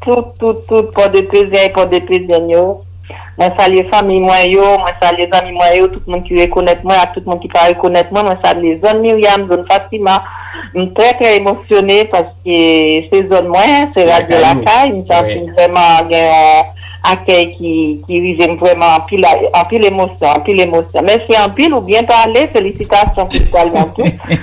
Tout tout tout pòdepezen e pòdepezenn yo, mwen salye fanmiy mwen yo, mwen salye zanmi mwen yo, tout moun ki rekonèt mwen ak tout moun ki pa rekonèt mwen, mwen salye zòn Miryam, zòn Fatima, m trè trè emosyone paske se zòn mwen, se radyo lakay, m santi m vrèman gen yon akèy ki rive m vrèman anpil anpil emosyon anpil emosyon, mèsi anpil ou byen pale felisitasyon pou pwal mwen tou.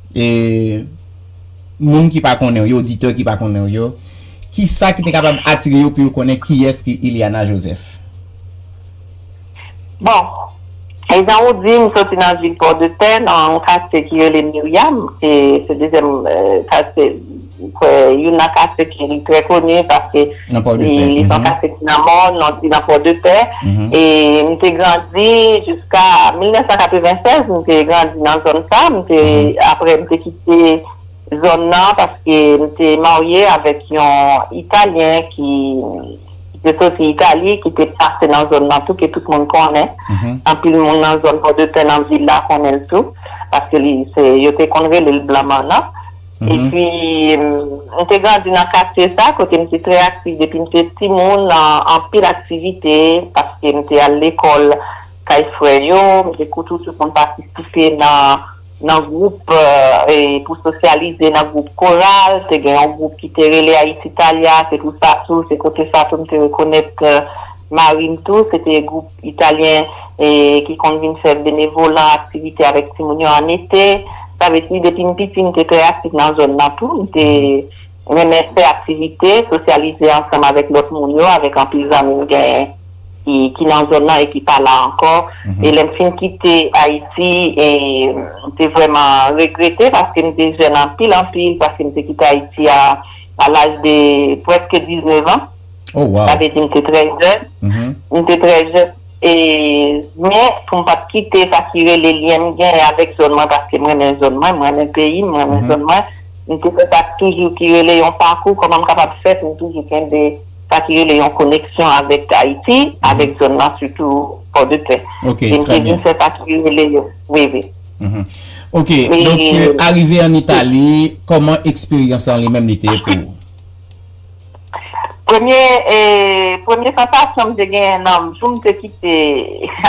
E moun ki pa konnen w yo, oditè ki pa konnen w yo, ki sa ki te kapab atire yo pou yo konnen kiyès ki Ilyana Joseph? Bon, e jan ou di, m soti nan vil Pòdepè, nan yon katye ki rele Miryam, e se dezyèm katye, M kwè youn nan katye ke li trè koni paske li son katye ki nan mòn, an ti nan Pòdepè. E m te grandi jiska 1996, m te grandi nan zòn sa. M te, apre m te kite zòn nan paske m te marye avèk yon Italyen ki te soti Itali, ki te pase nan zòn nan tou, ke tout moun konnen. Anpil moun nan zòn Pòdepè, nan vil la konnen l tou, paske li se, yo te konn rele l Blan Mannan. Epi, m te grandi nan katye sa, kote m te trè aktif depi m te timoun nan anpil aktivite, paske m te al lekòl kay frè yo, m te toujou konn patisipe nan gwoup pou sosyalize, nan gwoup koral, te gen yon gwoup ki te rele Ayiti Talya, se pou sa tou, se kote sa tou m te rekonèt mari m tou, se te gwoup. Italyen ki konn vin fè benevolan, aktivite avèk timoun yo an ete. Sa vle di depi m piti m te trè aktif nan zòn nan tou. M te renmen fè aktivite, sosyalize ansanm avèk lòt moun yo, avèk anpil zanmi m genyen ki nan zòn nan e ki pa la ankò. E lè m fin kite Ayiti, m te vrèman regrete paske m te jèn anpil anpil, paske m te kite Ayiti a laj de prèske 19 an. Oh wow. Sa vle di m te trè jèn. Mhm. M te trè jèn. E men pou m pa t kite sa ki rele lyen m gen avèk zòn mwen paske m renmen zòn mwen, m renmen peyi m, m renmen zòn mwen. M te fè sa k toujou ki rele yon pakou kòman m kapab fè pou m toujou kenbe sa ki rele yon koneksyon avèk Ayiti, avèk zòn nan sitou Pòdepè. Ok, E m trè te byen. vin fè sa ki rele yo. Wi, wi. Mhm. Ok, donk E arive an Itali, kòman eksperyans lan li menm li te ye pou ou? Premye premye sansasyon m te genyen nan jou m te kite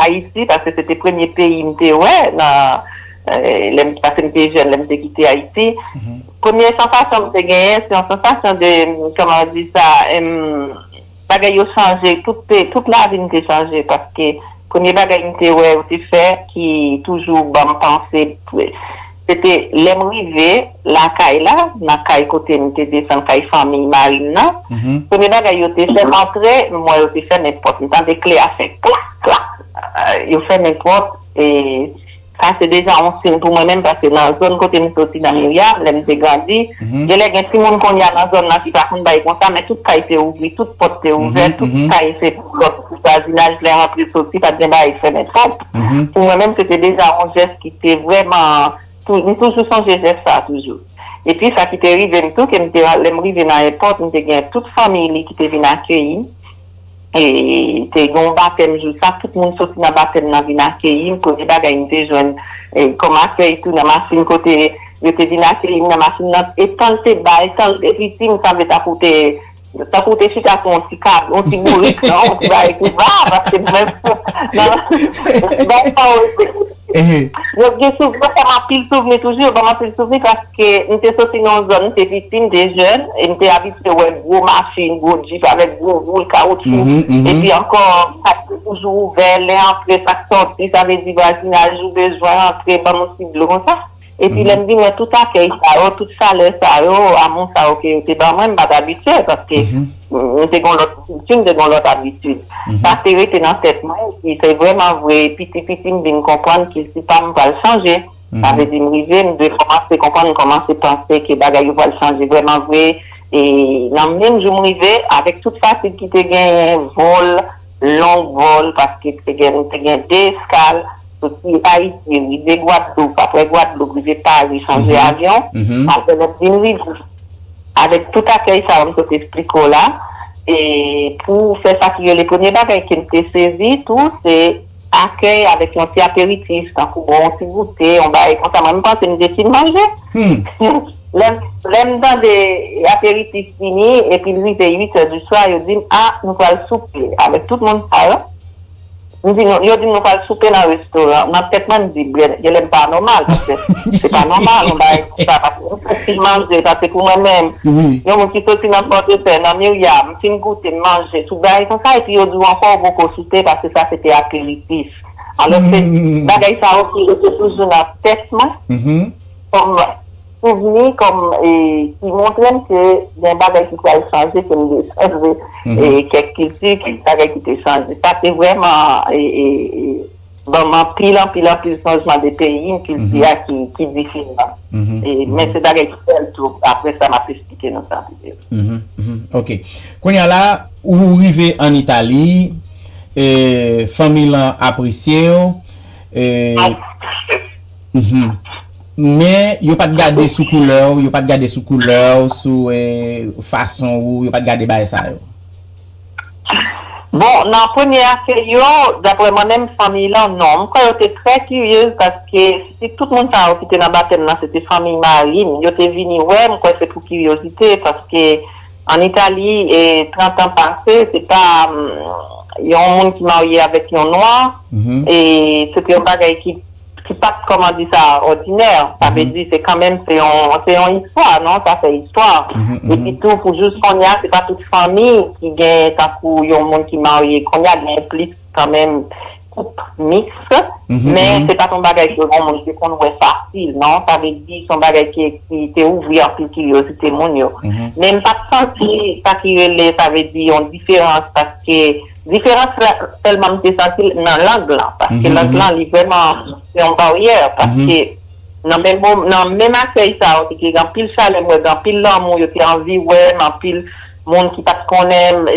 Ayiti paske se te premye peyi m te wè nan lè m paske m te jèn lè m te kite Ayiti premye sansasyon m te genyen se yon sansasyon de kòman yo di sa bagay yo chanje tout te tout lavi m te chanje paske premye bagay m te wè yo te fè ki toujou ban m panse Se te lè m rive lakay la, nan kay kote m te desann, kay fanmiy mari m nan, premye bagay yo te fè m antre, m wè yo te fèmen pòt, m tande kle a fè klak, klak, yo fèmen pòt e sa se deja yon siy pou mwen menm paske nan zòn kote m soti nan Miryab, lè m te grandi, genlè gen timoun kounye a nan zòn nan ki pa konn bay konsa men tout kay te ouvri, tout pòt te ouvè, tout kay se pòt pou vwazinaj lè rantre soti, pa t gen bagay fèmen pòt. Pou mwen menm se te deja yon jès ki te vrèman, m toujou sonje jès sa a toujou. Epi sa ki te rive m tou ke m te, lè m rive nan èpòt m te gen tout fanmiy li ki te vin akeyi m, e te gen yon batèm jou sa, tout moun soti nan batèm nan vin akeyi m, premye bagay m te jwenn kòm akèy tou nan machin kote yo te vin akeyi m nan machin nan, e tan l te ba, e tan l te piti m sanble tankou te. Tankou ou te chita sou yon ti kab, yon ti bourik, non? Yon ti bagay ki va, paske nou menm, nan, bay pawòl se. Yo gen souvni, yo fè m anpil souvni toujou, yo ban m anpil souvni paske m te soti nan yon zòn, m te piti, m te jèn e m te abitye wè gwo machin, gwo djip avèk gwo woul kawoutchou. Epi ankò, kat yo toujou ouvè, lè antre, sak sòti, sa vle di vwazinaj ou bezwen antre, ban m yon ti dlo konsa. Epi lè m vin wè tout akèy sa yo, tout chalè sa yo, amou sa yo ke yo te ban mwen, m pa t abitye paske m te gen yon lòt kilti, m te gen yon lòt abitid. Sa te rete nan tèt mwen epi se vrèman vre piti piti m vin konprann kilti pa m pral chanje. Sa vle di m rive, m te kòmanse konprann, m kòmanse panse ke bagay yo pral chanje vrèman vre e nan menm jou m rive avèk tout fatig ki te genyen, vòl, Long vol paske te gen nou te gen 2 eskal soti ayiti rive gwadloup aprè gwadloup rive pari chanje avyon aprè lòt vin rive avèk tout akèy sa yo m sot esplike w la e pou fè sa ki rele premye bagay kem te sezi tou se Akèy avèk yon ti aperitif tankou bon yon ti goute yon bagay konsa mwen m panse m desi m manje lè m tande aperitif fini epi l rive 8 è di swa yo di m a nou pral soupe avèk tout moun sa yo m di yo di m nou pral soupe nan restoran nan tèt mwen m di genlè m pa nòmal paske se pa nòmal yon bagay konsa paske m santi m manje paske pou mwen menm yon moun ki soti nan pòdepè nan miryam. Fin goute, manje, tout bagay konsa epi yo di w ankò ou poko soupe paske sa se te aperitif. Alòske bagay sa yo ki rete toujou nan tèt mwen kòm souvni, kòm ki montre m ke gen bagay ki pral chanje, ke m desann de kèk kilti, kèk bagay ki te chanje. Sa te vrèman banm anpil anpil anpil chanjman de peyi m kilti a ki diferan men se bagay ki bèl tou aprè sa map esplike nou sa ok kounya la ou rive an itali fanmi lan apresye w men yo pat gade sou koulè w yo pat gade sou koulè w sou fason ou yo pat gade bay sa yo Bon nan premye akeyi yo daprè mwen menm fanmiy lan non mkwè yo te trè kiryez paske si tout moun sa yo ki te nan batèm nan se te fanmiy marim yo te vini wè mkwè se pou kiryozite paske an itali e 30 an pase se pa yon moun ki marye avèk yon nwa e se te yon bagay ki Se pa t kòman di sa òdinè, sa vle di se kanmenm se yon istwa non, sa fè istwa. Epi tou pou jous kounye a se pa tout fanmi ki gen tankou yon moun ki marye, kounye a gen plis kanmenm koup miks men se pa t yon bagay ke yon moun te konn wè fasil non, sa vle di se yon bagay ki te ouvri anpil kiryozite moun yo. Men m pa t santi sa ki rele sa vle di yon diferans paske. Diferans la sèlman m te santi l nan lang lan, paske lang lan li vrèman se yon baryè, paske nan menm mo, nan menm akèy sa yo te gen anpil chalè, m wè gen anpil lanmou, yo te anvi wè m, anpil moun ki pa t konnen m,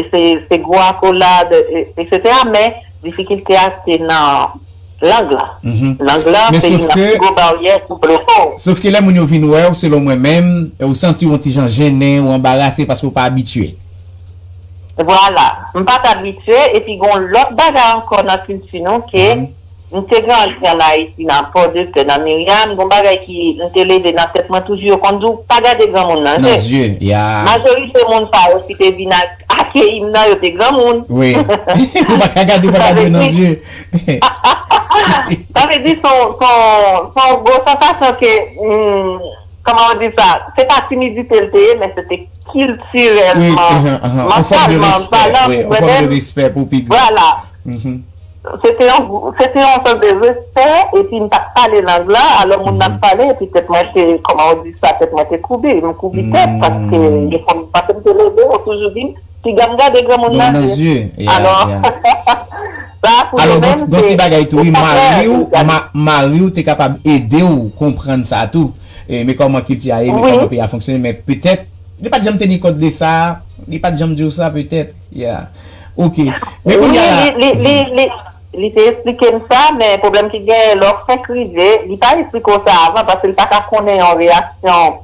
se gwo akolad, eksetera men difikilte a se nan lang lan. Lang lan se youn nan pi gwo baryè ki bloke w. Sof ke lè moun yo vin wè w, selon mwen menm, ou santi w yon ti jan jennen, ou anbarase paske ou pa abitye. Vwala, m pa t abitye, epi gen yon lòt bagay ankò nan kilti nou ke m te grandi an Ayiti nan Pòdepè, nan Miryam, gen yon bagay ki m te leve nan tèt mwen toujou, yo konn di w pa gade granmoun nan je. Majorite moun sa yo ki te vin akeyi m nan yo te granmoun. Ou pa ka gade yo, pa gade yo nan je. Sa vle di se yon gwo sansasyon ke Kòman ou di sa? Se pa timidite l te ye, men se te kiltirèlman, mantalman, valè pou bonè l. Vwala. Se te yon sòt de respè, epi m pa t pale lang la, alò moun nan ap pale, epi tèt mwen te, kòman ou di sa, tèt mwen te koubi, m koubi tèt, paske m te leve, yo toujou di m. Piga m gade granmoun nan je. Granmoun nan je, ya, ya. Sa a pou nou menm se. Alò, gon ti bagay tou wi, mari w, mari w te kapab ede w konprann sa a tou. Men kòman kilti a ye, men kòman peyi a fonksyone, men petèt, li pa t janm teni kont de sa, li pa t janm di w sa petèt, ya. Ok. Men kounye a la. Wi, li, li, li, li te esplike m sa, men pwoblèm ki genyen lè w fenk rive, li pa esplike w sa avan paske li pa ka konnen yon reyaksyon.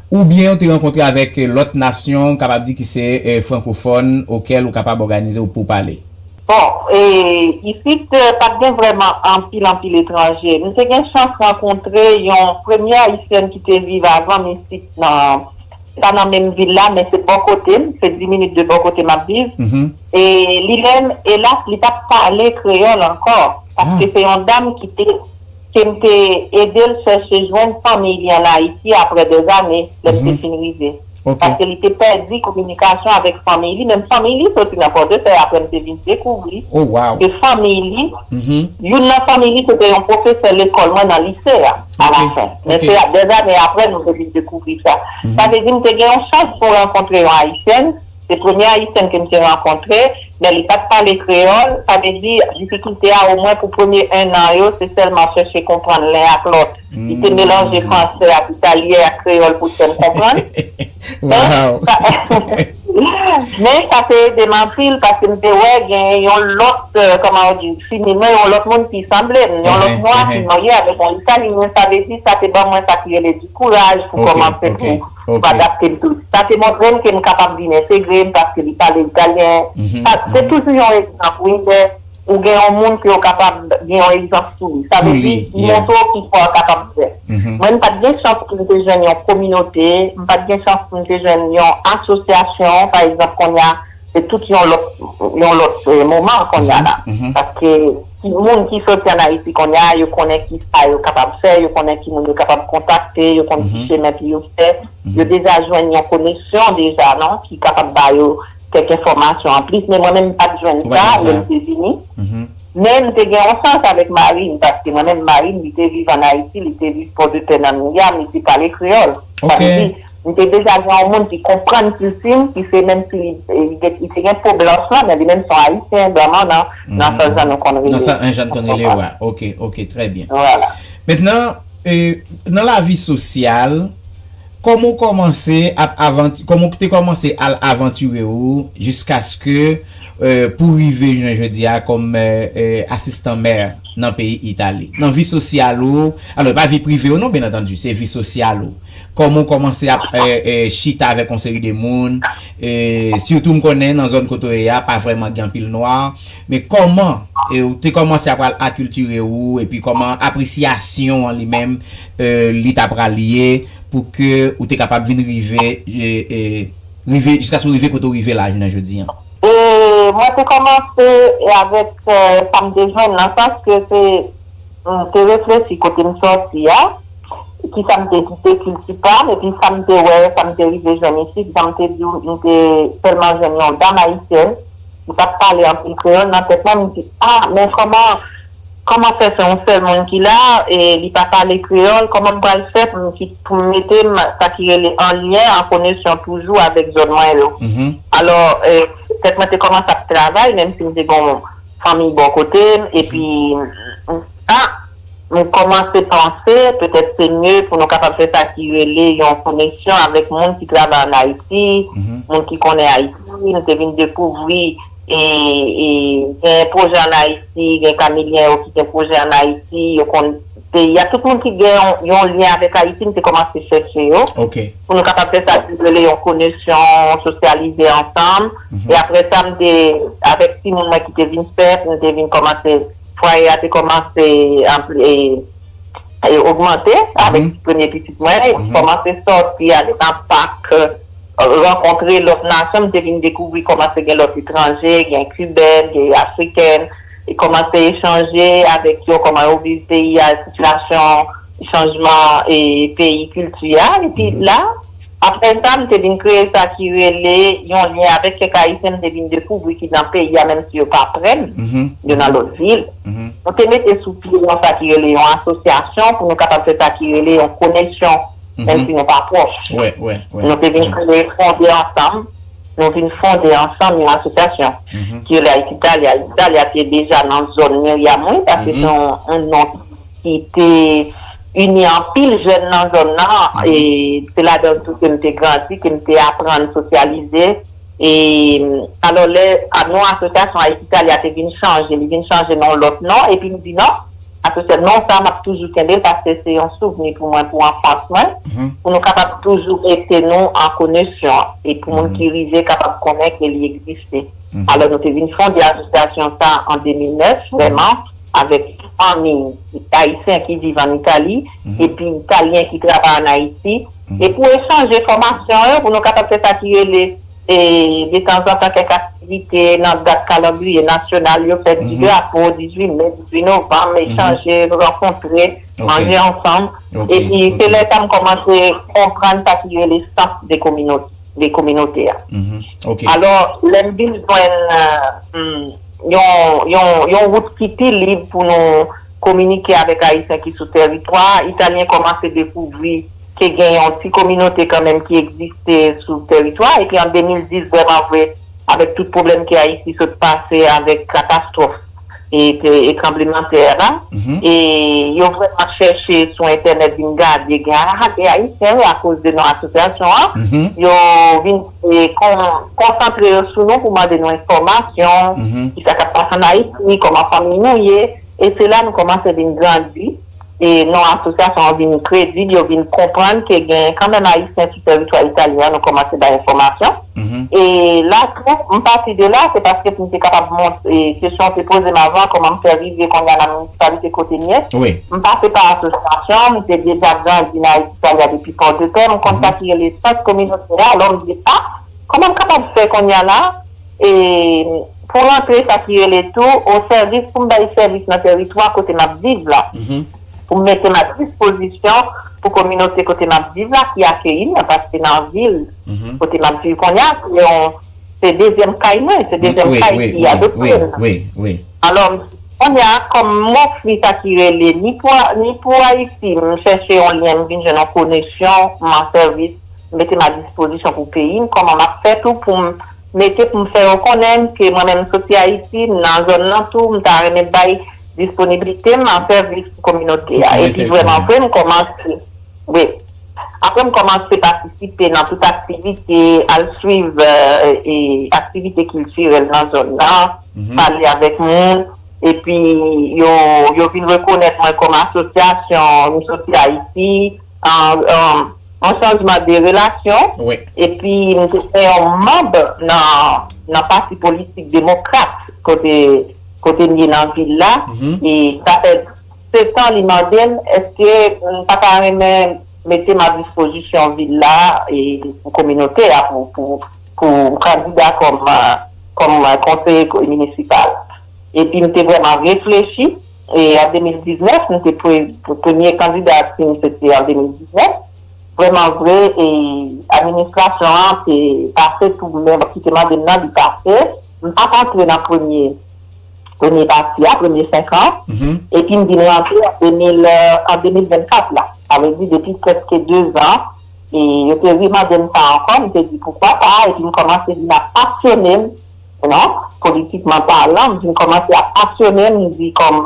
Oubyen ou te rankontre avèk lòt nasyon ou kapab di ki se frankofòn okel ou kapab òganize ou poupale? Bon, isit pat gen vrèman anpil anpil etranje. M te gen chans rankontre yon premye ayisyèn ki te viv avan m isit nan, se pa nan menm vil la men se bò kote m, se 10 minit de bò kote m ap viv. E li menm, elas, li pat pale kreyòl ankò paske se yon dam ki te. ke m te ede l chèche jwenn fanmiy li an Ayiti apre dèzane lè m te fin rive. Paske li te pèdi kominikasyon avèk fanmiy li, menm fanmiy li soti nan Pòdepè apre m te vin dekouvri ke fanmiy li, youn nan fanmiy li se te yon pwofesè lekòl mwen nan lise a alafen. Men se dèzane apre nou te vin dekouvri sa. Sa vle di m te gen yon chans pou m rankontre yon Ayisyèn. Se premye ayisyèn ke m te rankontre, men li pat pale kreyòl, sa vle di difikilte a omwen pou premye 1 an yo se sèlman chèche konprann len ak lòt. Li te melanje fransè ak italyen ak kreyòl pou l fè m konprann. Men sa te ede m anpil paske m te wè genyen yon lòt, kòman yo di, fimine, yon lòt moun ki sanble m, yon lòt nwa ki marye avèk yon italyen, sa vle di sa te ban mwen sa ki rele di kouraj pou kòmanse pou M pa adapte m toujou. Sa te montre m ke m kapab vin entegre m paske li pale italyen. Se toujou yon egzanp wi lè ou gen yon moun ke ou kapab gen yon egzanp sou li. Sa vle di li montre w kisa ou kapab fè. Mwen m pa t gen chans pou m te jwenn yon kominote, m pa t gen chans pou m te jwenn yon asosyasyon pa egzanp konnya. Se tout yon lòt yon lòt moman konnya la. Paske timoun ki soti an Ayiti konnya a yo konnen ki sa yo kapab fè, yo konnen ki moun yo kapab kontakte, yo konn ki chemen pou yo fè. Yo deja jwenn yon koneksyon deja non ki kapab ba yo kèk enfòmasyon anplis. Men mwen menm m pa t jwenn sa lè m te vini. Men m te gen yon sans avèk mari m paske mwen menm mari m li te viv an Ayiti, li te viv Pòdepè nan Miam, li te pale kreyòl. Sa vle di. M te deja gen yon moun ki konprann kilti m, ki se menm si li te gen po blanch lan, men li menm se yon Ayisyen, Blanman nan, nan sa jan nou konn rele. Nan sa jan n konn rele yo a. Ok, ok, trè byen. Vwala. Mentnan, nan lavi sosyal, kòman ou kòmanse ap avanti, kòman ou te kòmanse al avantire ou jiskaske pou rive jounen jodi a kòm asistan mè nan peyi Itali? Nan vi sosyal ou, alò e pa vi prive ou non, byen antandi, se vi sosyal ou. Kòman w kòmanse ap chita avèk yon seri de moun, sitou m konnen nan zòn kote w ye a pa vrèman gen anpil nwa, men kòman w te kòmanse ap pral akiltire ou epi kòman apresyasyon an li menm li ta pral ye pou ke ou te kapab vin rive rive jiskaske w rive kote w rive la jounen jodi an? Mwen te kòmanse avèk sa m te jwenn nan sans ke se m te reflechi kote m sòti a. ki sa m te kite kilti pa m epi sa m te wè, sa m te rive jwenn isit, jan m te di w m te sèlman jwenn yon dam ayisyèn ki pa t pale anpil kreyòl nan tèt mwen, m di a men kòman kòman fè se yon sèl moun ki la e li pa pale kreyòl kòman m pral fè pou m ki pou m mete m sa ki rele an lyen an konesyon toujou avèk zòn mwen yo alò tèt mwen te kòmanse ap travay menm si m te gen yon fanmiy bò kote m epi m a. Nou kòmanse panse petèt se mye pou nou kapab fè sa ki rele yon koneksyon avèk moun ki travay ann Ayiti, moun ki konnen Ayiti. Nou te vin dekouvri gen pwojè ann Ayiti, gen Kamilyen yo ki gen pwojè ann Ayiti, yo konn peyi a. Tout moun ki gen yon lyen avèk Ayiti, nou te kòmanse chèche yo pou nou kapab fè sa ki rele yon konesyon, sosyalize ansanm. E aprè sa, m te avèk timoun mwen ki te vin fè, nou te vin kòmanse. Fwaye a te kòmanse ogmante avèk premye pitit mwen. M kòmanse sòti ale nan pak, rankontre lòt nasyon. M te vin dekouvri kòmanse gen lòt etranje, gen kibèn, gen afrikèn. E kòmanse echanje avèk yo, kòman yo viv peyi a, sitiyasyon chanjman peyi, kilti a. Epi la. Aprè sa, m te vin kreye sa ki rele yon lyen avèk kèk Ayisyen m te vin dekouvri ki nan peyi a menm si yo pa prè m, yo nan lòt vil. Nou te mete sou pye yon sa ki rele yon asosyasyon pou nou kapab fè sa ki rele yon konesyon menm si nou pa pwòch. Nou te vin kreye, fonde ansanm, nou vin fonde ansanm yon asosyasyon ki rele Ayiti Italya. Ayiti Italya te deja nan zòn miryam mwen paske se yon non ki. ki te ini anpil jèn nan zòn nan, e se ladan tou ke m te grandi, ke m te aprann sosyalize. E alò lè non asosyasyon Ayiti Italya te vin chanje, li vin chanje nan yon lòt non, epi m di non, asosya, non sa a m ap toujou kenbe l paske se yon souvni pou mwen, pou anfans mwen, pou nou kapab toujou rete nou an konesyon, e pou moun ki rive kapab konnen ke li egziste. Alò nou te vin fonde asosyasyon sa a an 2009 vrèman. avèk fanmi ayisyen ki viv ann Itali epi italyen ki travay ann Ayiti e pou echanje fòmasyon yo pou nou kapab fè sa ki rele detanzantan kèk aktivite nan dat kalandriye nasyonal yo, fèt di drapo, 18 me, 18 novanm, echanje, rankontre, manje ansanm. Epi se lè sa m kòmanse konprann sa ki rele sans de kominote a. Alò, lè m vin jwenn. yon wout ki pi lib pou nou kominike avèk Ayisyen ki sou tèritwa a. Italyen kòmanse dekouvri ke gen yon ti kominote kanmenm ki egziste sou tèritwa a. Epi an 2010 vrèmanvre, avèk tout pwoblèm ke Ayiti sot pase avèk katastwòf e tranblemanntè a, e yo vrèman chèche sou entènèt vin gade, gen a gen Ayisyen wi akoz de non asosyasyon an, yo vin. e konsantre yo sou nou pou mande nou enfòmasyon, ki sa k ap pase ann Ayiti, kòman fanmi nou ye, e se la nou kòmanse vin grandi, e non asosyasyon an vin kredib, yo vin konprann ke gen kanmenm Ayisyen sou tèritwa italyen an, nou kòmanse bay enfòmasyon, e la tou, m pati de la, se paske pou m te kapab montre, kesyon w te poze m avan, kòman m fè rive kounye a nan minisipalite kote m ye, m pase pa asosyasyon, m te deja grandi nan Ayiti Italia depi. Pò de pè m konn sa ki rele sant kominotè a lò m di a kòman m kapab fè konnya la e pou rantre sa ki rele tou o sèvis pou m bay sèvis nan tèritwa kote m ap viv la pou m mete m a dispozisyon pou kominote kote m ap viv la ki akeyi m paske nan vil kote m ap viv konnya se yon Se dezyèm kay mwen, se dezyèm kay ki adopte l lan. Alò, kounye a, kòm m ofri sa ki rele ni pou Ayiti, m chèche yon lyen, m vin jwenn yon konesyon, m an sèvis, m mete m a dispozisyon pou peyi m, kòman m ap fè tou pou m mete pou m fè yo konnen ke mwen menm m soti Ayiti, m nan zòn lan tou, m ta renmen bay disponiblite m an sèvis pou kominote a. Epi vrèman vre, m kòmanse. Wi. Apre m kòmanse patisipe nan tout aktivite, al swiv aktivite kiltirèl nan zòn nan, pale avèk moun, epi yo vin rekonèt mwen kòm asosyasyon M Soti Ayiti, yon chanjman de relasyon, epi m te fè yon manb nan pati politik demokrat kote m ye nan vil la, e sa fè. Se sa li mande m, èske m pa ta renmen mete m a dispozisyon vil la e pou kominote a pou m kandida kòm konseye minisipal. Epi m te vrèman reflechi e an 2019, m te premye kandidati m se te an 2019, vrèman vre e administrasyon an te pase tou men ki te mande m nan li pase, m pa t antre nan premye. premye pati a, premye senkan, epi m vin rantre an 2024 la. Sa vle di depi prèske dezan, e yo te remande m sa ankò, m te di poukwa pa, epi m kòmanse vin ap pasyone m, you know, politikman palan, m vin kòmanse ap pasyone m, m di kòm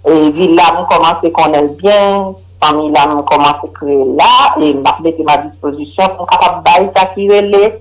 e vil la m kòmanse konnen l byen, fanmi la m kòmanse kreye l la, e m ap mete m a dispozisyon pou m kapab bay sa ki rele.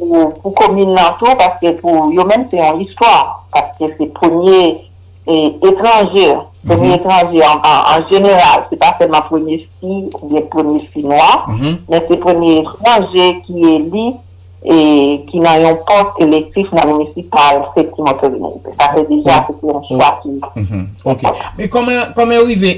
pou komin nan tou paske pou yo menm se yon istwa paske se premye etranje premye etranje an jeneral se pa sèlman premye fi oubyen premye fi nwa men se premye etranje ki eli e ki nan yon pòs elektif nan minisipal se ti motolini se sa se deja se te yon chwa ki ok men kòman kòman yo rive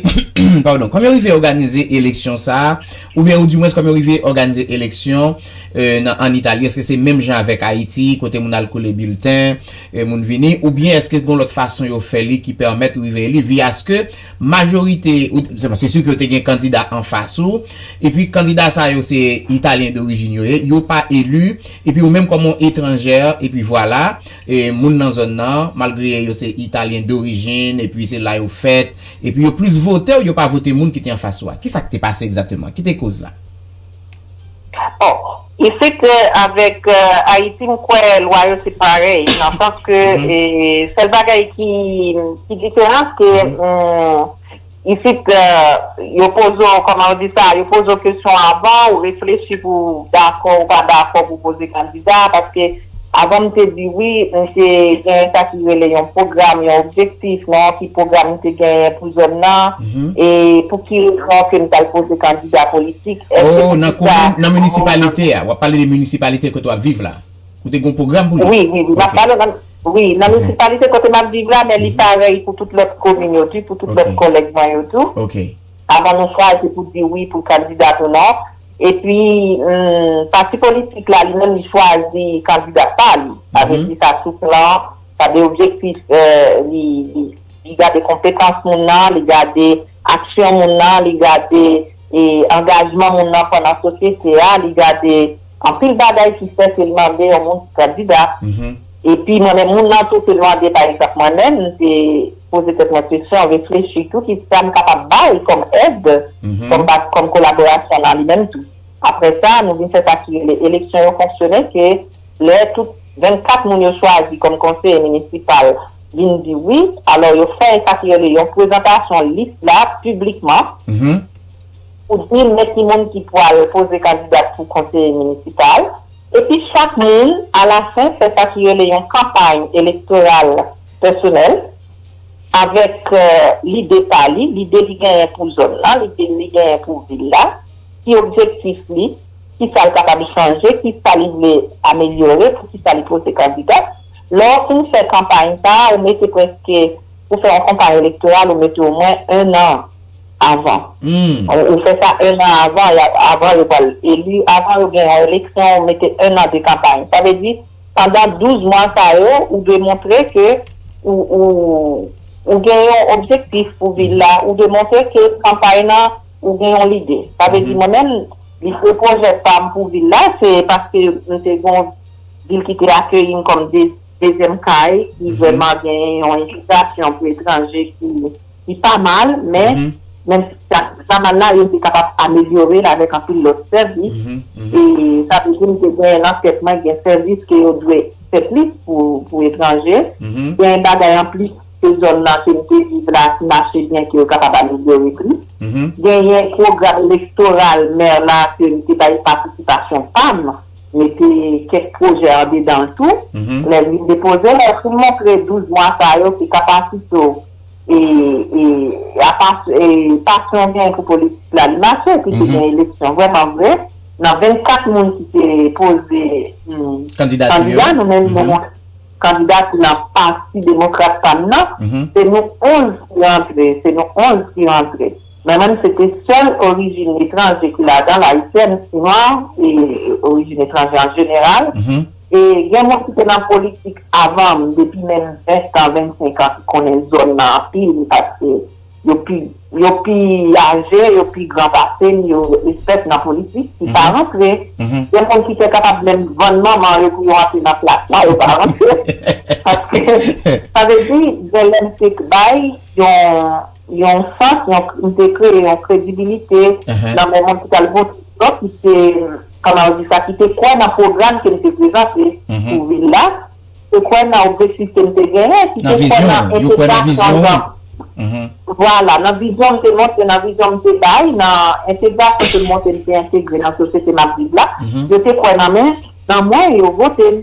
padon kòman yo rive òganize eleksyon sa oubyen ou di mwens kòman yo rive òganize eleksyon nan an Italie eske se menm jan avek Haiti kote moun al kole bilten e moun vini ou byen eske gon lot fason yo fè li ki permet rive eli via ske majorite ou se su ke yo te gen kandida an fas ou e pi kandida sa yo se Italien dorijin yo ye yo pa eli e pi ou menm kom on etranjè e pi vwala e moun nan zon nan malgre yo se Italien dorijin e pi se la yo fèt e pi yo plis votew yo pa vote moun ki te an fas ou a ki sak te pase egzateman ki te koz la. Oh isit avèk Ayiti m kwè lwa yo se parèy nan sans ke sèl bagay ki diferans ke isit yo poze w kòman w di sa yo poze w kesyon avan ou reflechi pou w dakò ou pa dakò pou w poze kandida paske Avan m te di wi, m te genyen sa ki rele yon pwogram, yon objektif nan yon ti pwogram m te genyen pou zòn nan, e pou ki rezon ke m t al poze kandida politik, èske pou ki sa moun. O, nan komin, nan minisipalite a, w ap pale de minisipalite kote w ap viv la, ou te gen yon pwogram pou li? Wi, wi, wi, m ap pale nan, wi, nan minisipalite kote m ap viv la, men li parèy pou tout lòt komin yo tou, pou tout lòt kòlèg mwen yo tou. Ok. Avan nou frape pou di wi pou kandida pou non. Epi pati politik la li menm li chwazi kandida pa li. Sa vle di sa sou plan, sa de objektif li gade konpetans moun nan, li gade aksyon moun nan, li gade angajman moun nan pran nan sosyete a, li gade anpil bagay ki fè ke l mande yon moun pou kandida. Epi mwen menm moun nan tou te mande pa egzanp mwen menm m te poze tèt mwen kesyon, reflechi tou ki sa m kapab bay kòm èd, kòm bak, kòm kolaborasyon nan li menm tou. Aprè sa nou vin fè sa ki rele eleksyon yo fonksyone ke lè tout 24 moun yo chwazi kòm konseye minisipal vin di wi, alò yo fè sa ki rele yon prezantasyon lis la piblikman pou di men ki moun ki pwal poze kandidat pou konseye minisipal. Epi chak moun, alafen, fè sa ki rele yon kanpay elektoral pèsonèl, avèk lide pa li, lide li genyen pou zòn lan, lide li genyen pou vil la, ki objektif li, ki sa l kapab chanje, ki sa li vle amelyore, pou ki sa li pote kandida. Lè w fin fè kanpay sa a, ou mete prèske, ou fè yon kanpay elektoral, ou mete omwen ennan Avan. Ou fè sa 1 an avan, avan yo pral eli, avan yo gen yon eleksyon ou mete 1 an de kanpay. Sa vle di pandan 12 mwa sa yo ou dwe montre ke ou gen yon objektif pou vil la, ou dwe montre ke kanpay nan ou gen yon lide. Sa vle di mwen menm lide pwojè pam pou vil la se paske m te gen yon vil ki te akeyi m kòm dezyèm kay ki vrèman gen yon envitasyon pou etranje ki. Li pa mal, men, menm si sa ki pa mal la, yo te kapab amelyore l avèk anpil lòt sèvis. E sa vle di m te genyen nan tèt mwen gen sèvis ke yo dwe fè plis pou etranje. Genyen bagay anplis ke zòn nan ke m te viv la ki mache byen ke yo kapab amelyore plis. Genyen pwogram elektoral mè la ke m te bay patisipasyon pa m, mete kèk pwojè andedan l tou. Lè m vin depoze l, lè m fin montre 12 mwa sa yo ke kapasite w, e e apa e pasyon ou genyen pou politik la li mache epi te gen eleksyon vrèman vre nan 24 moun ki te poze kandidati yo nou menm nou mwen kandidati nan pati demokrat pa m nan se nou 11 ki rantre se nou 11 ki rantre men menm se te sèl orijin etranje ki ladan l ayisyèn, nwa e orijin etranje an jeneral. E gen moun ki te nan politik avan m depi menm 20 tan, 25 an ki konnen zòn nan anpil paske yo pi yo pi aje, yo pi gran pase m, yo espèt nan politik ki pa rantre. Gen moun ki te kapab menm vann manman yo pou yo antre nan plas la, yo pa rantre. Paske sa vle di gen lè m te bay yon. yon sans, li te kreye yon kredibilite nan men moun ki t al vote pou yo, ki te, kòman yo di sa, ki te kwè nan pwogram ke m te prezante pou vil la, ki te kwè nan objektif ke m te genyen, ki te kwè nan entegrasyon nan, vwala, nan vizyon m te montre, nan vizyon m te bay, nan entegrasyon ke m montre m te entegre nan sosyete m ap viv la, yo te kwè nan mwen, yo vote m.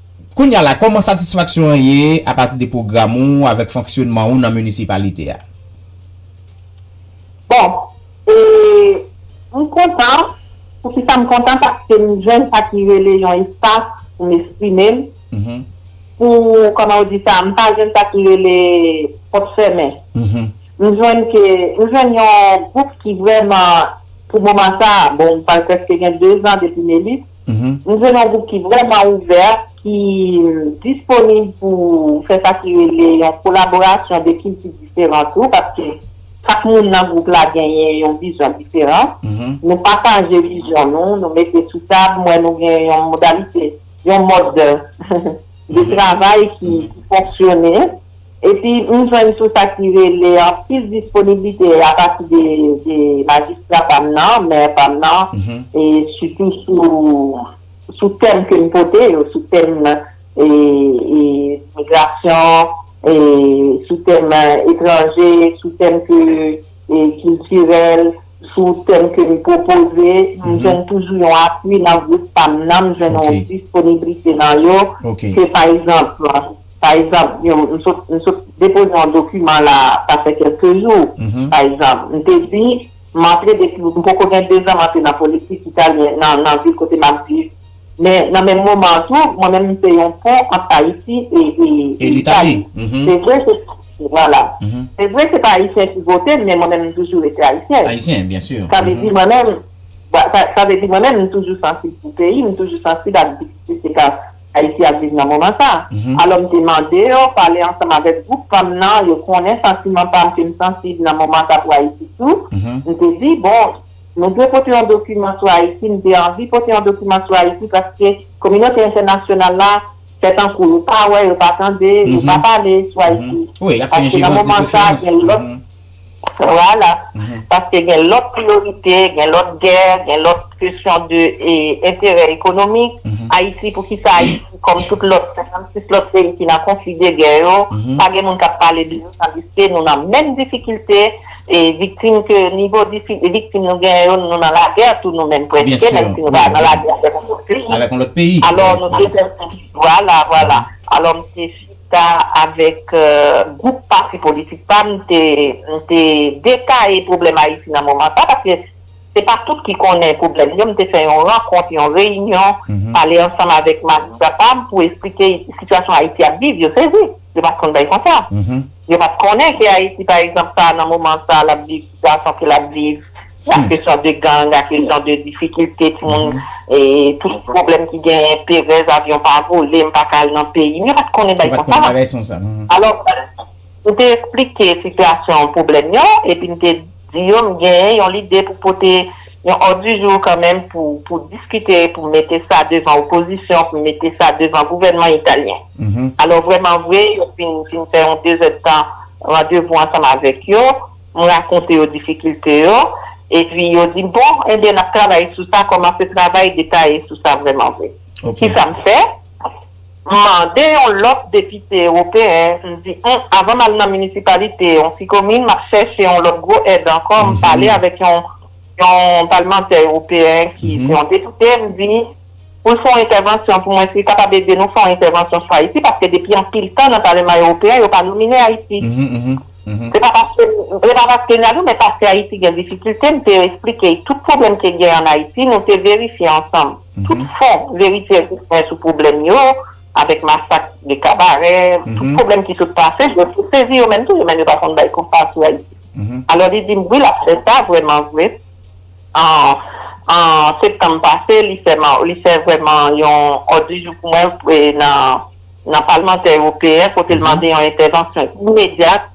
Kounye a la, kòman satisfaksyon an ye apati de pwogram ou avèk fonksyonman ou nan minisipalite a? Bon, e, m kontan. Poukisa m kontan? Paske m jwenn sa ki rele yon espas pou m esprime m, pou, kòman yo di sa, m pa jwenn sa ki rele pòt fèmen. M jwenn ke, m jwenn yon gwoup ki vrèman, pou moman sa a, bon m pral prèske gen dezan depi m eli, Nou jwenn yon gwoup ki vrèman ouvè, ki disponib pou fè sa ki rele yon kolaborasyon de kilti diferan tou, paske chak moun nan gwoup la genyen yon vizyon diferan. Nou pataje vizyon nou, nou mete sou tab, m wè nou gen yon modalite, yon mòd de travay ki fonksyone. Epi m jwenn tou sa ki rele anpil disponiblite apati de majistra pa m nan, mè pa m nan, e sitou sou tèm ke m pote yo, sou tèm migrasyon, sou tèm etranje, sou tèm ke kiltirèl, sou tèm ke m pwopoze, m jwenn toujou yon apui nan gwoup pa m nan, m jwenn yon disponiblite nan yo, ke pa egzanp. Pa egzanp, m sot m sot depoze yon dokiman la a, sa fè kèlke jou, pa egzanp, m te di m antre depi m poko gen dezan m antre nan politik italyen nan nan vil kote m ap viv. Men nan menm moman an tou, mwen menm m se yon pon ant Ayiti e e e Itali. Se vre se Vwala. Se vre se pa Ayisyen ki vote m men mwen menm m toujou rete Ayisyèn. Sa vle di mwen menm sa vle di mwen menm m toujou sansib pou peyi m, m toujou sansib ak difikilte k ap Ayiti ap viv nan moman sa. Alò m te mande yo pale ansanm avèk gwoup fanm nan, yo konnen santiman pa m ke m sansib nan moman sa pou Ayiti tou. M te di, bon, nou dwe pote yon dokiman sou Ayiti, m te anvi pote yon dokiman sou Ayiti paske kominote entènasyonal la fè tankou yo pa wè, yo pa tande, yo pa pale sou Ayiti. Paske nan moman sa gen lòt. Vwala. Paske gen lòt priyorite, gen lòt gè, gen lòt kesyon de enterè ekonomik. Ayiti, poukisa Ayiti kòm tout lòt 56 lòt peyi ki nan konfli de gè yo, pa gen moun k ap pale de yo tandiske nou nan menm difikilte, e viktim ke nivo viktim nou genyen yo, nou nan lagè tou nou menm prèske, menm si nou pa nan lagè avèk yon lòt peyi. Alò nou te fè, vwala, vwala. Alò m te. ta avèk gwoup pati politik pa m, m te detaye pwoblèm Ayiti nan moman sa a, paske se pa tout ki konnen pwoblèm yo, m te fè yon rankont, yon reyinyon, pale ansanm avèk majistra pa m pou esplike sitiyasyon Ayiti ap viv, yo sezi, yo pa t konn bagay konsa, yo pa t konnen ke Ayiti pa egzanp sa a nan moman sa a l ap viv, sitiyasyon ke l ap viv. Sa ke san de gang, a ke san de difikilte ti moun, tout pwoblèm ki genyen, perèz, avyon pa vole, m pa ka al nan peyi m, yo pat konnen bagay konsa. Yo pat konnen bagay sonsa. Alò, m te esplike sitiyasyon pwoblèm yo, epi m te di yo m genyen yon lide pou pote yon òd di jou kanmenm pou diskite, pou mete sa devan opozisyon, pou mete sa devan gouvènman italyen. Alò, vrèman vre, yo fin fè yon dezèdtan randevou ansanm avèk yo. M rakonte yo difikilte yo, epi yo di m, bon, enben n ap travay sou sa, kòmanse travay detaye sou sa vrèman vre. Ki sa m fè? M mande yon lòt depite ewopeyen, m di, m, avan m al nan minisipalite, yon ti komin, m ap chèche yon lòt gwo èd ankò, m pale avèk yon palmantè ewopeyen ki se yon depite, m di, pou l fè yon entèvansyon pou mwen, si l kapab ede nou fè yon entèvansyon sou Ayiti, paske depi anpil tan nan palema ewopeyen, yo pa nomine Ayiti. Se pa paske m vle pa paske Nadou men paske Ayiti gen difikilte m te esplike y tout pwoblèm ke gen an Ayiti nou te verifye ansanm tout fon verite egziste sou pwoblèm yo avèk masak de kabarè tout pwoblèm ki sot pase yo te sezi yo menm tou yo menm yo pa konn bay konpa sou Ayiti alò li di m wi l ap fè sa vrèman vre an septanm pase li fè vrèman yon òd di jou pou mwen nan. nan palmantè ewopeyen kote l mande yon entèvansyon imedyat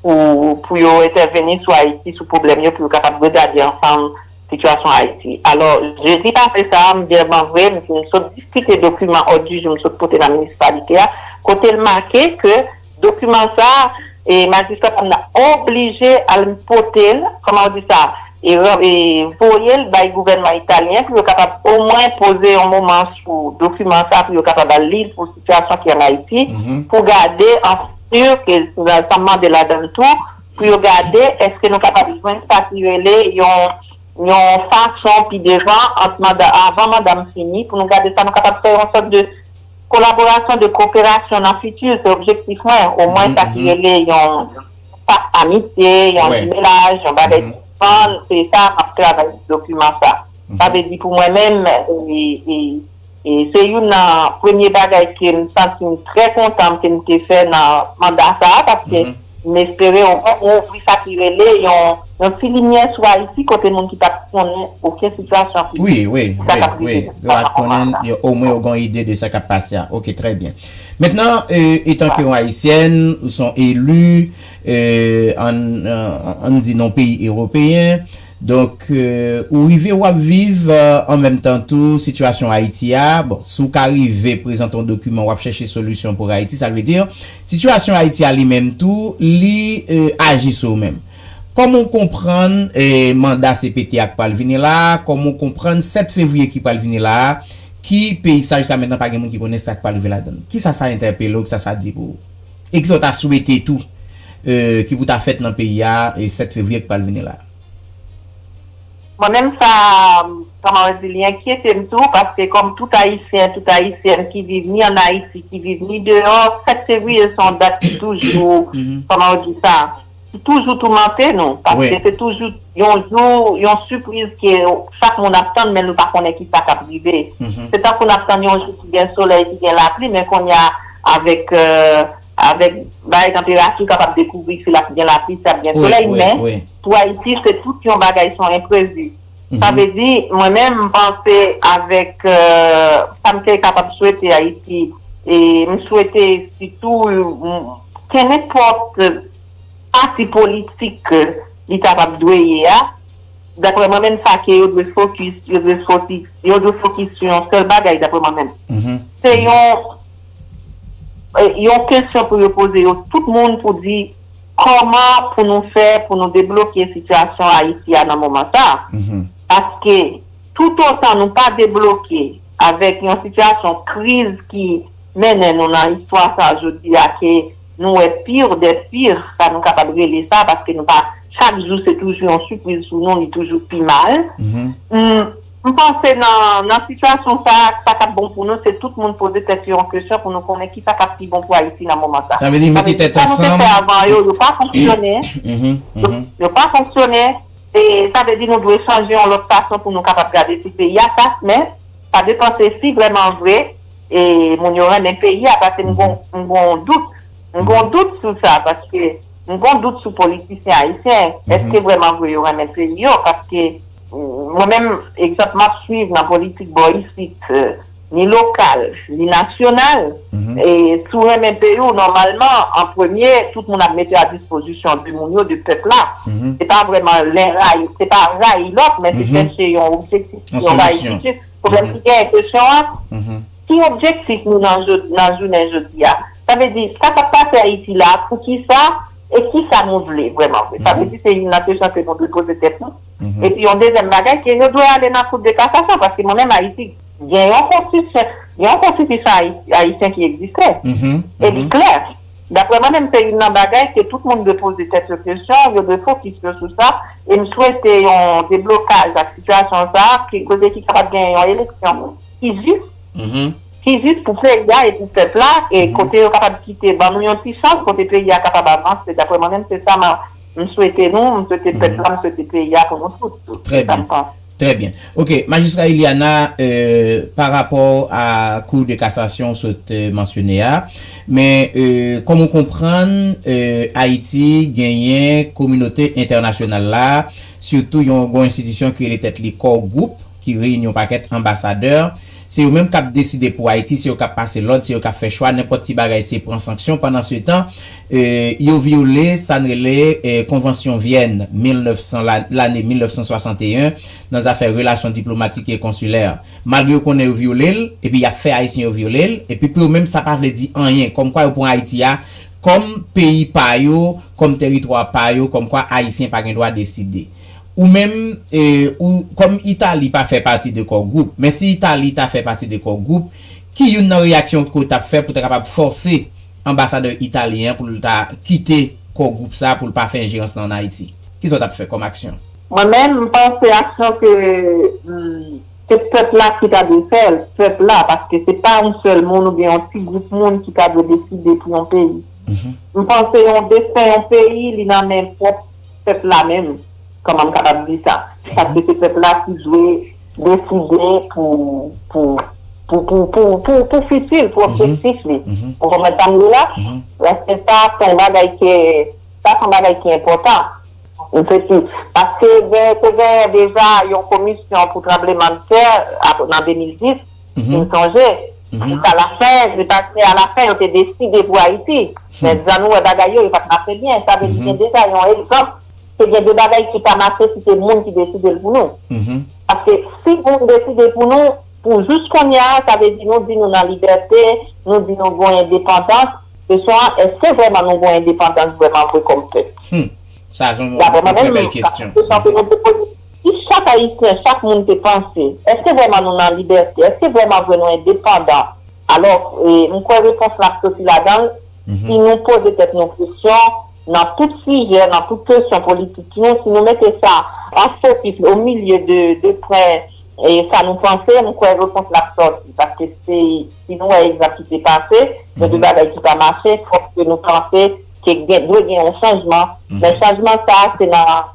pou yo entèveni sou Ayiti sou pwoblèm yo pou yo kapab regade ansanm sitiyasyon Ayiti. Alò, jedi pase sa a, m byenman vre, m sot diskite dokiman òd di jou m sot pote nan minisipalite a kote l make ke Dokiman sa a, majistra pa nan oblije al pote l, kòman ou di sa, voye l bay gouvènman italyen pou yo kapab omwen poze yon moman sou dokiman sa a pou yo kapab al li l pou sitiyasyon ki an Ayiti pou gade an fiti ke sa m mande ladan l tou pou yo gade èske nou kapab jwenn sa ki rele yon fason pi devan ant manda avan manda m fini pou nou gade sa nou kapab fè yon sòt de Kolaborasyon de koperasyon nan fiti se objektif mwen, omwen sa ki rele yon pak amitye, yon jimelaj, yon bagay ki san, se sa m ap travay sou dokiman sa. Sa vle di pou mwen menm, se youn nan premye bagay ke m santi m trè kontan ke m te fè nan manda sa a paske, M espere ou ouvri sa ki rele yon ti limyè sou Ayiti kote moun ki pat konnen oken sitiyasyon ki Wi, wi, wi, wi, yo rat konnen, omwen yo gen yon ide de sa k ap pase a. Ok, trè byen. Mentnan, etanke yon Ayisyèn, ou se yon eli, ann di nan yon peyi ewopeyen, donk ou rive ou ap viv an menm tan tou sitiyasyon Ayiti a, bon, si w ka rive prezante yon dokiman w ap chèche solisyon pou Ayiti, sa vle di Sitiyasyon Ayiti a li menm tou, li aji sou ou menm. Kòman ou konprann manda cpt a k pral vini la a, kòman ou konprann 7 fevriye ki pral vini la a, ki peyi sa jiska mentnan pa gen moun ki konnen sa k pral rive ladan l? Kisa sa entèpele ou, kisa sa di pou ou? E kisa ou ta swete tou ki pou ta fèt nan peyi a 7 fevriye k pral vini la a? Mwen menm sa kòman mwen di li enkyete m tou paske kòm tout ayisyen tout ayisyèn ki viv ni an ayiti ki viv ni deyò 7 fevriye se yon dat ki toujou kòman ou di sa ki toujou toumante nou paske se toujou yon jou yon sipriz ke chak moun ap tann men nou pa konnen kisa kap rive se tankou nap tann yon jou ki gen solèy ki gen lapli men kounye a avèk Avèk bay tanperati ou kapab dekouvri si l ap gen lapli, si ap gen solèy men pou Ayiti se tout yon bagay son enprevi. Sa vle di mwen menm m panse avèk sa m te kapab swete Ayiti e m swete sitou kenenpòt pati politik li kapab dwe ye a, daprè mwen menm sa ke yo dwe fokis, yo dwe fokis sou yon sèl bagay daprè mwen menm. Se yon. Yon kesyon pou yo poze yo tout moun pou di kòman pou nou fè pou nou debloke sitiyasyon Ayiti a nan moman sa a. Paske toutotan nou pa debloke avèk yon sitiyasyon kriz ki mennen nou nan istwa sa jodi a ke nou wè pire de pire sa nou kapab rele sa paske nou pa chak jou se toujou yon sipriz pou nou li toujou pi mal. M panse nan sitiyasyon sa a, sa k ap bon pou nou se tout moun poze tèt yo yon kesyon pou nou konnen kisa k ap pi bon pou Ayiti nan moman sa. Sa vle di mete tèt ansanm. Sa nou te fè avan yo, yo pa fonksyone. Yo pa fonksyone. E sa vle di nou dwe chanje yon lòt fason pou nou kapab gade si peyi a sa men sa depan se si vrèman vre e moun yo renmen peyi a paske m gon dout. M gon dout sou sa paske m gon dout sou politisyen ayisyen èske vrèman vre yo renmen peyi yo paske. Mwen menm, egzanp m ap suiv nan politik bò isit, ni lokal, ni nasyonal, si w renmen peyi w, nòmalman, an premye, tout moun ap mete a dispozisyon de moun yo, de pèp la. Se pa vrèman len rayi, se pa rayi lòt, men se chèche yon objektif, si yon bagay ki jis. Pwoblèm ki genyen, kesyon an, ki objektif nou nan jounen jodi a? Sa vle di, sa k ap pase Ayiti la a, poukisa e kisa nou vle vrèman vre? Sa vle di se youn nan kesyon ke nou dwe poze tèt nou. Epi yon dezyèm bagay ke yo dwe ale nan kout de kasasyon paske mwen menm Ayiti gen yon konstisyon, gen yon konstitisyon ayisyen ki egziste e li klè. Daprè mwen menm se youn nan bagay ke tout moun dwe poze tèt yo kesyon, yo dwe fokis yo sou sa e m swete yon deblokaj ak sitiyasyon sa ki kote ki kapab genyen yon eleksyon ki jis, ki jis pou peyi a e pou pèp la e kote yo kapab kite ban nou yon ti chans kote peyi a kapab avanse. Daprè mwen menm se sa m. M swete nou, m swete pèp la, m swete peyi a pou nou tout tou. Se sa m panse. Trè byen. Ok, Majistra Iliana, pa rapò a Kou de Kasasyon ou sot mansyone a, men kòm ou konprann Ayiti genyen kominote entènasyonal la, sitou yon gwo enstitisyon ki rele tèt li Core Group ki reyini yon pakèt anbasadè Se yo menm kap deside pou Ayiti, se yo kap pase lòd, se yo kap fè chwa, nenpòt ti bagay se pran sanksyon, pandan se tan yo vyole sa n rele Konvansyon Vyèn 1900 la, lane 1961, nan zafè relasyon diplomatik e konsilè. Malgre yo konnen yo vyole l, epi yap fè Ayisyen yo vyole l, epi pou yo menm sa pa vle di anyen, kòmkwa yo pran Ayiti a kòm peyi pa yo, kòm teritwa pa yo, kòmkwa Ayisyen pa gen dwa deside. Ou menm, ou, kòm Italie pa fè pati de Core Group, men si Italie ta fè pati de Core Group, ki youn nan reyaksyon ou t ap fè pou ta kapab fòse anbasadè italyen an pou l ta kite Core Group sa a, pou l pa fè enjerans lan ann Ayiti? Ki sa ou t ap fè kòm aksyon? Mwen menm, m panse aksyon ke, se pèp la ki ta dwe fè l, pèp la, paske se pa yon sèl moun oubyen yon ti gwoup moun ki ta dwe deside pou yon peyi. M panse yon desten yon peyi, li nan men pwòp pèp la menm, kòman m kapab di sa, paske se pèp la ki dwe deside pou fiti l, pou objektif li. Ou konprann sa m di la? Paske sa se yon bagay ke, sa se yon bagay ki enpòtan. M se si, paske te genyen deja yon komisyon pou tranblemann tè nan 2010, Fin sonje, jis a la fen, li pa se a la fen yo te deside pou Ayiti. Men jan nou wè bagay yo, yo pa t mache byen. Sa vle di gen deja yon egzanp ke gen de bagay ki pa mache si se moun ki deside l pou nou. Paske si moun deside pou nou, pou jous kounye a, sa vle di nou di nou nan libète, nou di nou gwen endepandans. Kesyon an, èske vrèman nou gwen endepandans vrèman vre kòm pèp? Dapre mwen menm, se yon kesyon ke nou te poze. Si chak Ayisyen, chak moun te panse, èske vrèman nou nan libète? Èske vrèman vre nou endepandan? Alò, m kwè repons la ap soti ladan l, si nou poze tèt nou kesyon nan tout sijè, nan tout kesyon politik yo, si nou mete sa an fokis o milye de pwen sa nou panse, m kwè repons la ap soti. Paske si nou wè egzanp ki te pase, gen de bagay ki pa mache, fòk ke nou panse ke dwe gen yon chanjman. Men chanjman sa a se nan.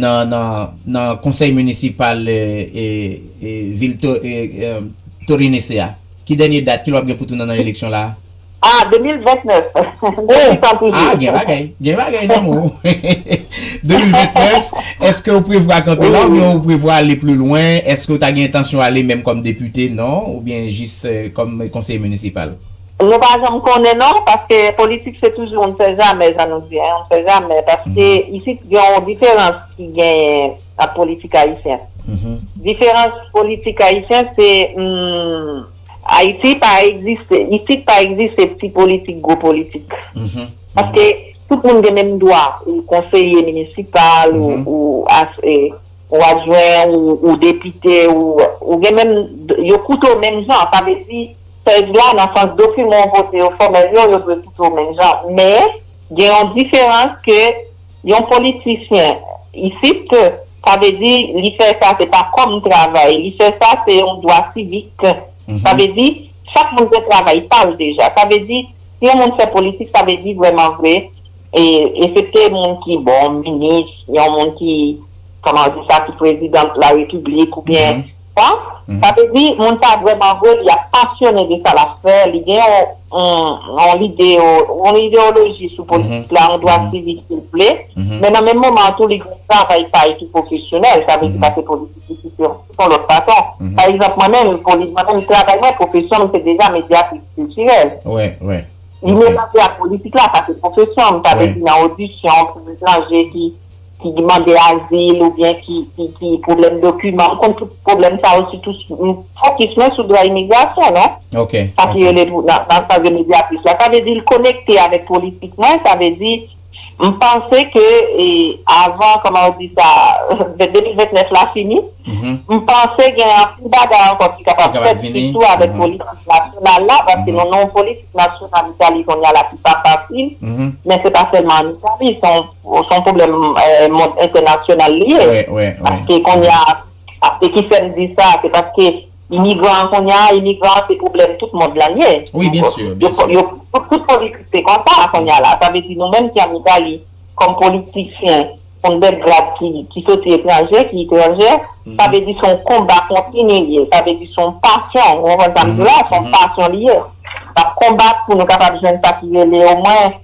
nan konsèy minisipal vil Torinese a? Ki dènye dat? Ki lè w ap gen pou tounen nan eleksyon la a? A, 2029. Gen ti tan toujou. A, gen bagay. Gen bagay nan men w. 2029, èske w prevwa kanpe la oubyen w prevwa ale pli lwen? Èske w ta gen entansyon ale menm kòm depite, non? Oubyen jis kòm konsèy minisipal? Nou pa janm konnen non, paske politik se toujou on ne sait jamais jan nou di, on ne sait jamais paske isit gen on diferans ki genyen ant politik ayisyen. Diferans politik ayisyen se Ayiti pa egziste, isit pa egziste ti politik gwo politik. Paske tout moun gen menm dwa ou konseye minisipal ou. Ou adjwen, ou depite, ou gen menm, yo koute w menm jan. Sa vle di, pej la, nan sans dokiman w pote yo, fòmèl yo, yo dwe koute w menm jan. Men, gen yon diferans ke yon politisyen isit, sa vle di, li fè sa, se pa kòm travay. Li fè sa, se yon dwa sivik. Sa vle di, chak moun gen travay pa l deja. Sa vle di, si yon moun fè politik, sa vle di vrèman vre, Esepte moun ki bon, minis, yon moun ki, kòman ou di sa, ki prezidan la repiblik ou byen sa, sa vle di moun sa vrèman vre li ap pasyone de sa l ap fè, li gen yon lide, yon ideyoloji sou politik la, yon dwa sivik si l vle, men nan menm moman an tou li gen yon travay pa li ki pwofesyonèl, sa vle di pase politik li se yon lòt fason. Pa egzanp mwen menm, mwen menm travay mwen, pwofesyon m se deja medyatris kiltirèl. Li melanje ak politik la, sa se pwofesyon m, sa vle di nan odisyon pou etranje ki mande azil oubyen ki gen pwoblèm dokiman, m konn tout pwoblèm sa yo sitou fokis mwen sou dwa imigrasyon non, sa ki rele nan sa yo rele medyatris la, sa vle di l konekte avèk politik mwen, sa vle di M panse ke avan kòman ou di sa 2029 la fini m panse gen anpil bagay ankò ki kapab fèt sitou avèk politik nasyonal la paske nou nan yon politik nasyonal Italie kounye a la ki pa fasil men se pa sèlman an Italie se yon pwoblèm mond entènasyonal li ye paske kounye a e ki fèm di sa se paske Imigran an kounya imigran an se pwoblèm tout mond lan ye. Wi byen sur, byen sur. Yo pou tout politik se konsa kounya la. Sa vle di nou menm ki an Italie kòm politisyen on bèk grad ki soti etranje, ki itranjè, sa vle di se on konba kontini li ye. Sa vle di se on pasyon, ou konprann sa m di la, se on pasyon li ye. N ap konbat pou nou kapab jwenn sa ki rele o mwen.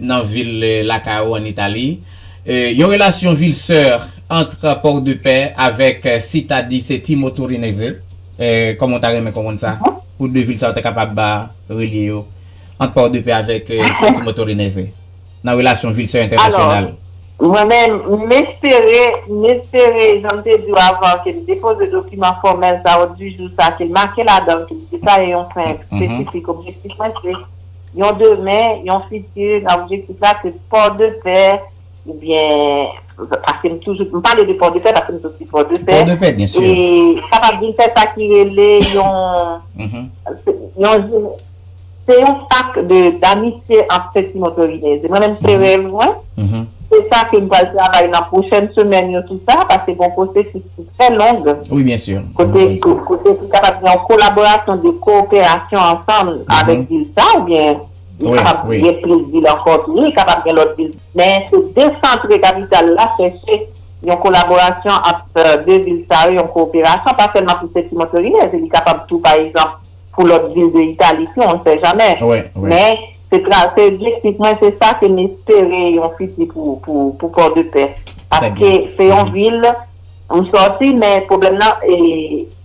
nan vil lakay ou an Itali, yon relasyon ville soeur ant Port-de-Paix avèk Città di Settimo Torinese, kòman ou ta renmen konprann sa, pou 2 vil sa yo ta kapab relye yo, ant Port-de-Paix avèk Settimo Torinese, nan relasyon ville soeur entènasyonal? Mwen menm, m espere, m espere, jan m te di w avan, ke m depoze dokiman fòmèl sa, òd di jou sa, ke l make ladan l, ke m detaye yon pwen espesifik, objektif mwen se. yon demen, yon fiti, nan objektif la se Pòdepè oubyen paske m toujou m pale de Pòdepè paske m soti Pòdepè e kapab vin fè sa ki rele yon yon se yon pak de damitye ant Sentimon Torinez e mwen menm se rèv mwen se sa ke m pral travay nan pwochèn semèn yo sou sa paske gon pwosesis trè long, kote ki kapab gen yon kolaborasyon de kooperasyon ansanm avèk vil sa oubyen li kapab gen plis vil ankò tou, li kapab gen lòt vil tou men se desantre kapital la chèche yon kolaborasyon ant 2 vil sa yo, yon kooperasyon pa sèlman pou sèti Montreuilnez e li kapab tou pa egzanp. pou lòt vil de Italie tou on sè jamè men se tra se objektif mwen se sa ke m espere yon fiti pou pou port de paix paske se yon vil m sòti men pwoblèm nan e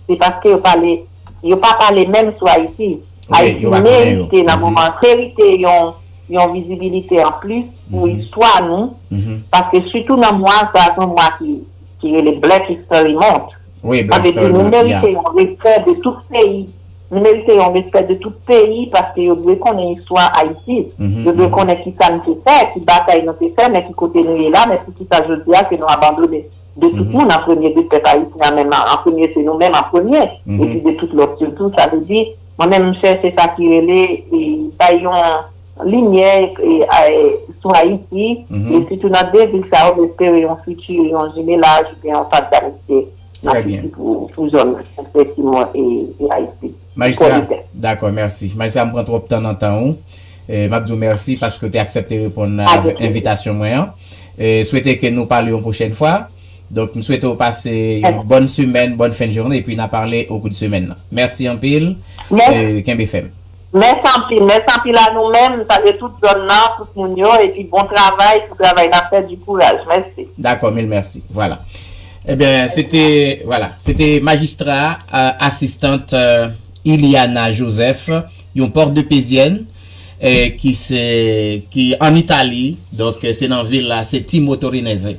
se paske yo pale yo pa pale menm sou Ayiti Ayiti merite nan moman merite yon yon vizibilite an plis pou istwa nou paske sitou nan mwa sa se yon mwa ki ki rele black history month An epi nou merite yon respè de tout peyi, nou merite yon respè de tout peyi paske yo dwe konnen istwa Ayiti, yo dwe konnen kisa nou te fè, ki batay nou te fè, men ki kote nou ye la, men pou kisa jodi a ke nou abandone de tout moun an premye de pèp Ayisyen an menm an premye se nou menm an premye epi de tout lòt yo tou, sa vle di mwen menm m chè se sa ki rele bay yon. Limyè sou Ayiti, e sitou nan 2 vil sa yo, m espere yon fiti, yon jimelaj oubyen yon faz d'amistye nan fiti pou zòn Sen Simon e Ayiti. Majistra, dakò, mèsi. Majistra, m pran twòp tan nan tan ou. M ap di ou mèsi paske ou te aksepte reponn envitasyon mwen an. Swete ke nou pale yon pwochèn fwa. Donk, m swete ou pase yon bòn semèn, bòn fen jounen, epi n a pale okou de semèn nan. Mèsi anpil. Kenbe fèm. Mès anpil mès anpil a nou menm salye tout zòn nan tout moun yo epi bon travay pou travay nap fè du kouraj mèsi. Dakò mil mèsi vwala ebyen se te vwala se te majistra asistant Iliana Joseph yon pòtdepezyèn ki se ki an Italie donk se nan vil la se ti motorinèse.